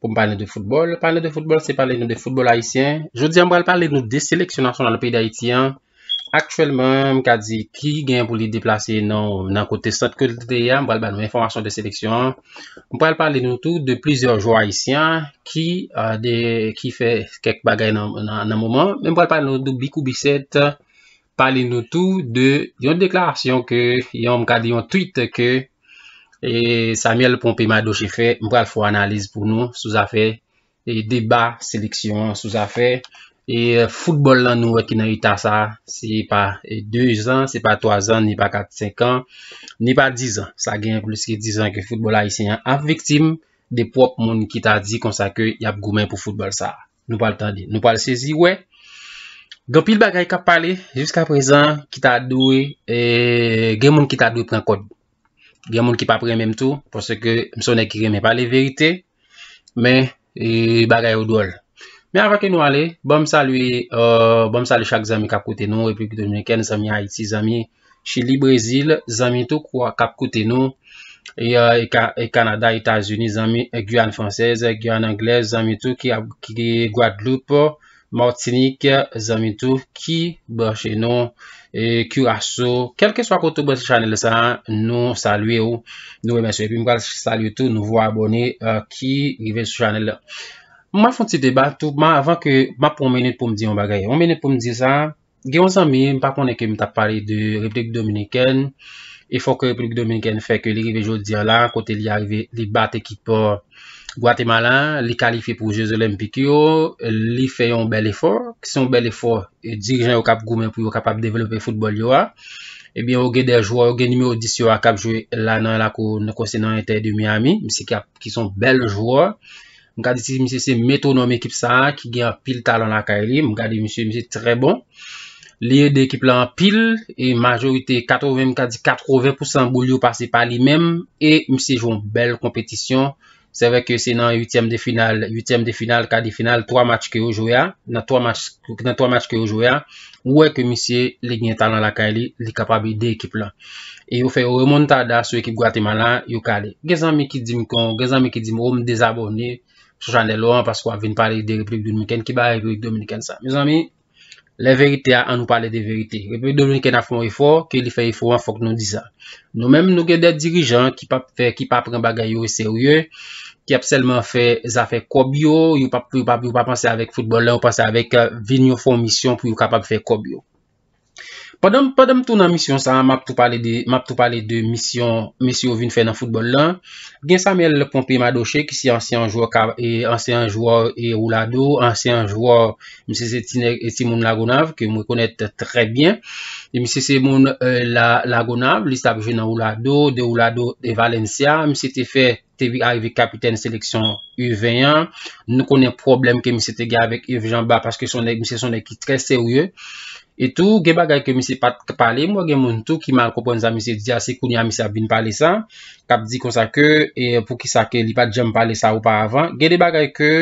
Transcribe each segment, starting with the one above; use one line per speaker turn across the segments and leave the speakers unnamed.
pou m pale nou de foutbòl. Pale nou de foutbòl se pale nou de foutbòl ayisyen. Jodi an m pral pale nou de seleksyon nasyonal peyi d'Ayiti an. Aktyèlman m ka di ki gen pou li deplase nan nan kote sant ke l te ye a. M pral ba nou enfòmasyon de seleksyon an. M pral pale nou tou de plizyè jwè ayisyen ki de ki fè kèk bagay nan nan moman. M pral pale nou de Bikou Bisèt pale nou tou de yon deklarasyon ke yon m ka di yon tweet ke e Samuel Pompé Madoche fè m pral fè yon analiz pou nou sou zafè e deba seleksyon an sou zafè e foutbòl lan nou wè ki nan eta sa se pa 2 zan se pa 3 zan ni pa 4 5 an ni pa 10 an sa gen plis ke 10 an ke foutbòl ayisyen an ap viktim de pwòp moun ki ta di konsa ke y ap goumen pou foutbòl sa a. nou pral tande, nou pral sezi wè gen pil bagay kap pale jiska prezan ki ta dwe e gen moun ki ta dwe pran kòd. Gen moun ki pa pran menm tou pwosè ke msonè ki renmen pale verite men e bagay yo dwòl. Men avan ke nou ale, banm salye, euh, banm salye chak zanmi kap koute nou, Repiblik Dominikèn, zanmi Ayiti, zanmi Chili Brezil zanmi tou kou a kap koute nou e Kanada Etazini zanmi Guyane Française Guyane Anglaise zanmi tou ki ap Guadeloupe Martinique zanmi tou ki branche nou e Curaçao kelkeswa kote ou branche chanèl sa nou salye ou nou remèsye epi m pral salye tou nouvo abòne ki rive sou chanèl la m ap fon ti deba tou m avan ke m ap pran yon minit pou m di yon bagay yon minit pou m di sa Gen yon zanmi, m pa konnen ke m tap pale de Repiblik Dominikèn, efò ke Repiblik Dominikèn fè ke li rive jodi an la, kote li arive, li bat ekip Gwatemala, li kalifye pou je zolenpik yo, li fè yon bèl efò, se yon bèl efò, dirijan yo kap goumen pou yo kapab devlope foutbòl yo a, ebyen yo gen de jwè, yo gen nimewo 10 yo a kap jwe la nan lakou, konsè nan Inter de Miami, misye ki son bèl jwè, M ka di ti misye se metronome ekip sa a ki gen anpil talan lakay li. M gade misye, misye trè bon. Li ede ekip la anpil e majorite 80, m ka di 80 pousan boul yo pase pa li menm e misye jwe yon bèl konpetisyon. Se vre ke se nan uityèm de final, uityèm de final, ka de final, 3 match ke yo jwe a, nan 3 match, nan 3 match ke yo jwe a, ou wè ke misye li gen talan lakay li, li kapab ede ekip la. E yo fè yo remontada sou ekip Gwatemala, yo kale. Gen zanmi ki di m kon, gen zanmi ki di m ou m dezabone sou chanèl ou an paske wap vin pale de Repiblik Dominikèn. Ki bagay Repiblik Dominikèn sa? Mezanmi, lè verite a, an nou pale de verite. Repiblik Dominikèn ap fè yon efò, ke li fè efò an fòk nou di sa. Nou menm nou gen de dirijan ki pap fè, ki pa pran bagay yo oserye, ki ap sèlman fè zafè kòb yo, yo pap yo pap yo pa panse avèk foutbòl la, yo panse avèk vin yo fè yon misyon pou yo kapab fè kòb yo. Pandan m pandan m tou nan misyon sa a, m ap tou pale de m ap tou pale de misyon mesye yo vin fè nan foutbòl la. Gen Samuel Pompé Madoche ki se ansyan jwè ka e ansyan jwè e Roulado, ansyan jwè Misye se ti nèg e ti moun Lagonav ke mwen konèt trè byen. E misye se moun euh, la Lagonav, li sa ap jwe nan Oulado, de Oulado de Valencia. Misye te fè te vi arive kapitèn seleksyon U20 an. Nou konnen pwoblèm ke misye te gen avèk Yves Jean Bart paske son nèg misye son nèg ki trè serye. E tou gen bagay ke misye pat k pale, m wè gen moun tou ki mal konprann sa misye di a, se kounye a misye ap vin pale sa, kap di konsa ke e poukisa ke li pat janm pale sa oparavan, gen de bagay ke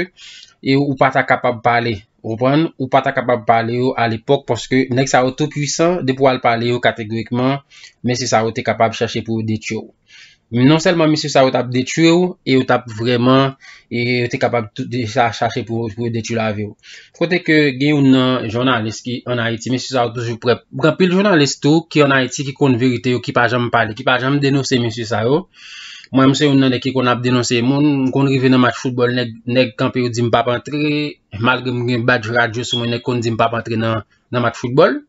e ou pata kapab pale, ou konprann, ou pata kapab pale yo a lepòk paske nèg sa yo tou pwisan, depi wal pale yo kategorikman men se sa yo te kapab chache pou yo detwi w. Non sèlman mesye sa yo t ap detui ou, e yo t ap vrèman, e yo te kapab tou deja chache pou yo detui lavi ou. Kote ke gen youn nan jounalis ki an Ayiti, mesye sa yo toujou prè. Gen anpil jounalis tou ki an Ayiti ki konn verite yo, ki pa janm pale, ki pa janm denonse mesye sa yo. Mwen menm se youn nan nèg ki konn ap denonse moun. M konn rive nan match foutbòl, nèg kanpe yo di m pa p antre, malgre m gen badj radyo sou mwen, nèg konn di m pa p antre nan match. nan match football.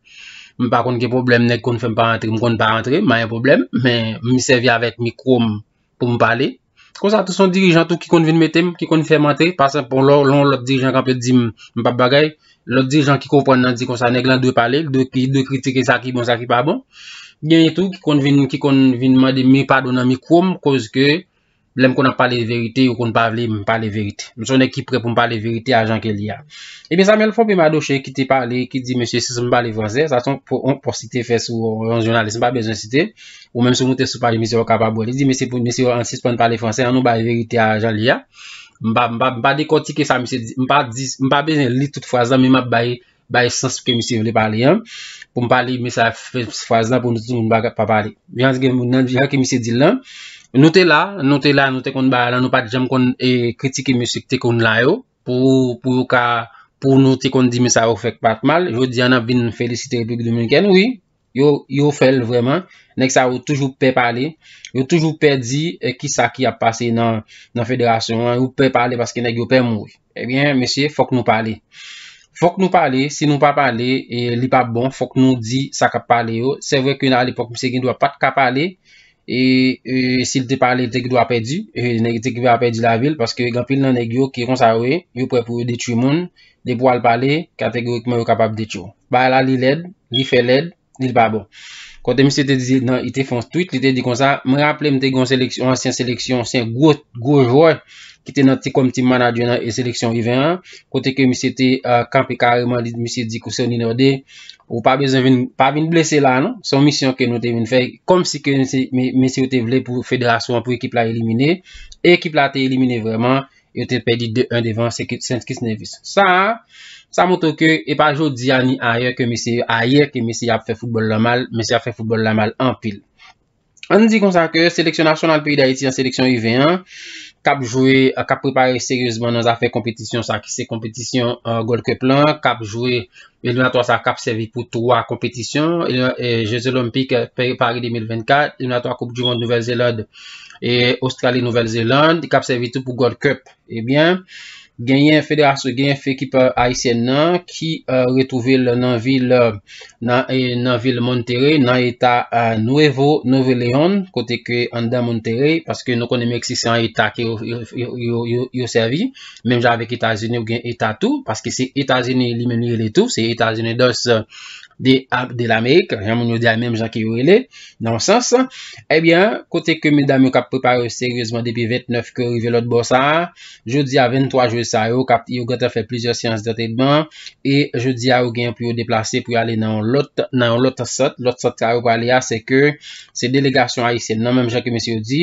M pa konn ki pwoblèm nèg konn fè m pa antre, m konn pa antre, m pa gen pwoblèm. Men m sèvi avèk mikwo m pou m pale. Konsa tou son dirijan tou ki konn vin mete m, ki konn fè m antre. Pasan pou lò, lò yon lòt dirijan kanpe di m, m pa p bagay. Lòt dirijan ki konprann nan di konsa nèg lan dwe pale, li dwe kritike sa ki bon, sa ki pa bon. Genyen tou ki konn vin mande m padon nan mikwo m koz ke. Lèm konn ap pale verite, yo konn pa vle m pale verite. M se yon nèg ki prè pou m pale verite a jan ke li a. Ebyen Samuel Phompe Madoche ki te pale, ki di mesye si m pale fransè, sa se yon pòs li te fè sou yon jounalis m pa bezwen site, ou menm si w moute sou paj misye w kapab wè. Li di mesye pou mesye yo ann sispann pale fransè, annou bay verite a jan li a. M pa dekòtike sa misye di, m pa di, m pa bezwen li tout fraz la men m ap bay bay sans ke misye vle pale an, pou m pale men sa fè fraz la pou nou timoun pa pale. Jan gen moun nan di jan ke misye di l lan, nou te la, nou te la, nou te konn bagay lan, nou pa t janm konn e kritike mesye ki te konn la yo, pou pou yo ka pou nou te konn di men sa yo fè k pa t mal, jodi a n ap vin felisite Repiblik Dominikèn wi. Yo yo fè l vrèman. Nèg sa yo toujou pè pale. Yo toujou pè di ki sa ki ap pase nan nan federasyon an. Yo pè pale paske nèg yo pè mouri. Ebyen mesye fòk nou pale. Fòk nou pale. Si nou pa pale e li pa bon fòk nou di sa k ap pale yo. Se vre ke nan alepòk misye gen dwa pat ka pale. E si l te pale te gen dwa pèdi. E nèg te gen dwa pèdi lavi l paske gen anpil nan nèg yo ki konsa yo ye. Yo prè pou yo detwi moun. Depi w al pale kategorikman yo kapab detwi w. Bagay la li lèd, li fè lèd, li l pa bon. Kote misye te di nan, li te fon tweet, li te di konsa, m raple m te gen yon seleksyon, yon ansyen seleksyon, se yon gwo, gwo jwè ki te nan ti kòm team manager nan e seleksyon U20 an, kote ke misye te euh, kanpe kareman, li misye di kou Sony Norde, ou pa bezwen vin, pa vin blese la non, son misyon ke nou te vin fè, kòm si ke misye, misye te vle pou federasyon an, pou ekip la elimine, e ekip la te elimine vrèman, Yo te pèdi 2 1 devan St Kitts Nevis. Sa a, sa montre ke e pa jodi a ni ayè ke mesye yo ayè ke mesye ap fè foutbòl la mal, mesye ap fè foutbòl la mal anpil. Ann di konsa ke seleksyon nasyonal peyi Dayiti an, seleksyon U20 an, k ap jwe, k ap prepare seryezman nan zafè konpetisyon sa ki se konpetisyon Gold Cup lan, k ap jwe Eliminatwa sa kap sèvi pou 3 konpetisyon, Jeux Olympiques Paris 2024, Eliminatwa Koup du Monde Nouvelle Zelande e Australie Nouvelle Zelande, kap sèvi tou pou Gold Cup. Ebyen, eh genyen federasyon, genyen fekip Ayisyen nan ki retouve l nan vil nan vil Monterrey nan eta Nuevo Nuevo Leon kote ke anndan Monterrey paske nou konnen Meksik se an eta ke yo sèvi. Menm jan avèk Etazini ou gen eta tou, paske se Etazini li menm li rele tou, se Etazini dos de de l'Amerik, jan moun yo di a menm jan ke yo rele, nan yon sans. Ebyen, eh kote ke medam yo kap prepare yo seryezman depi 29 ke yo rive lòt bò sa a, jodi a 23 jwe sa yo, kap yo gentan fè plizyè seyans dantredman, e jodi a yo gen pou yo deplase pou yo ale nan yon lòt, nan yon lòt sant, lòt sant sa yo prale a, se ke se delegasyon Ayisyen nan, menm jan ke mesye yo di,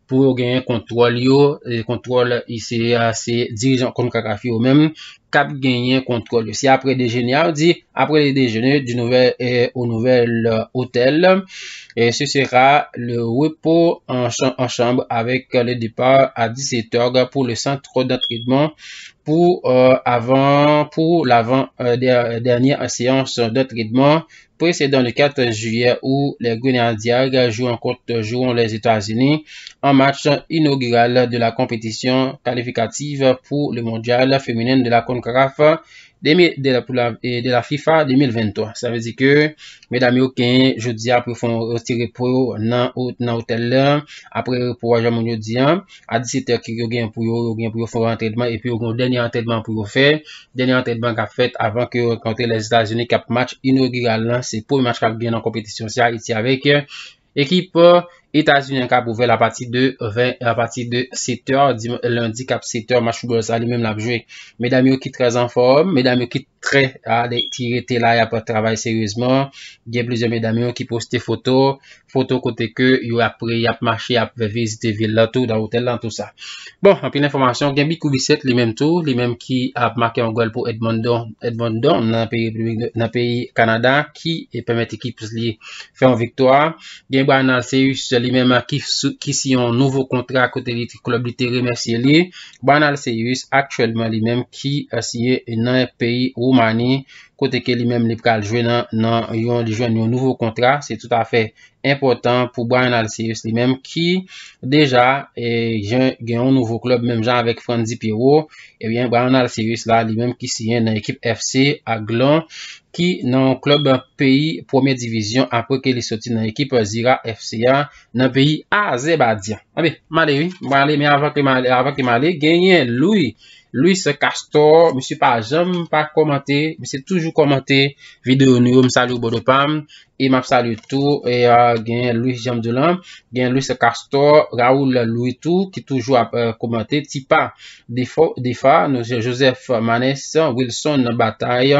pou yo genyen kontwòl yo, e kontwòl ICE a se dirijan Concacaf yo menm k ap genyen kontwòl yo. Se apre dejene a, yo di, Après le déjeuner, du nouvel eh, au nouvel hôtel, eh, ce sera le repos en cha- en chambre avec le départ à 17 heures pour le centre d'entraînement pour euh, avant pour l'avant euh, der- dernière séance d'entraînement Presedan le 14 jiyè ou les Grenadiers jou an kont Tojuwon les Etazini an match inogiral de la konpetisyon kalifikativ pou le mondyal feminen de la Concacaf de la FIFA 2023. Sa ve di ke medam yo ken jodi a pou fon ti repo nan otèl apre repo a jan moun yo di an. a 17 èk yo gen pou yo yo gen pou yo fè antrenman epi yo gen dènye antrenman pou yo fè dènye antrenman k ap fèt avan ke yo kontre lè Etazini k ap match inogiral lan se premye match k ap gen nan konpetisyon se Ayiti avèk ekip Etazini an k ap ouvè l apati de 20 apati de 7 èr lendi k ap 7 èr match foutbòl sa li menm l ap jwe medam yo ki trèz anfòm medam yo ki trè ki rete la y ap travay seryezman gen plizyè medam yo ki poste foto foto kote ke yo ap pre, y ap mache, y ap vizite vil la tou, dan otèl lan, tou sa. Bon, anpil enfòmasyon, gen Bikou Bisèt li menm tou, li menm ki ap make yon gòl pou Edmonton, Edmonton nan peyi Repiblik, nan peyi Kanada, ki pèmèt ekip li fè yon viktwa. Gen Bryan Alcéus li menm ki, ki siyen yon nouvo kontra kote li, klèb li te remèsye li. Bryan Alcéus aktyèlman li menm ki siyen nan peyi Woumani, kote ke li menm li pral jwe nan yon li jwenn yon nouvo kontra, se tout afè enpòtan pou Bryan Alcéus li menm ki deja gen yon nouvo klub menm jan avèk Frantzy Pierrot, ebyen eh Bryan Alcéus la li menm ki siyen nan ekip FC Aglon ki nan yon klub peyi premyè divizyon apre ke li soti nan ekip Zira FC a nan peyi Azèbadyan. Anbe, male wi, male men avan ke male genyen Louis Louis Castor misye pa janm pa kòmante misye toujou kòmante video nou yo m salye w brother pam e map salye tou gen Louis janm di w lan gen Louis Castor Raoul Louis tou ki toujou ap kòmante tipa defo defa nou se Joseph Manes Wilson Batay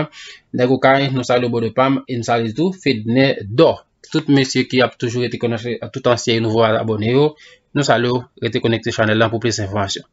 nèg okay nou salye w brother pam e m salye tou Fedne Dò tout mesye ki ap toujou rete kòmante tout ansyen e nouvo abone yo nou salye w rete konekte chanèl lan pou plis enfòmasyon.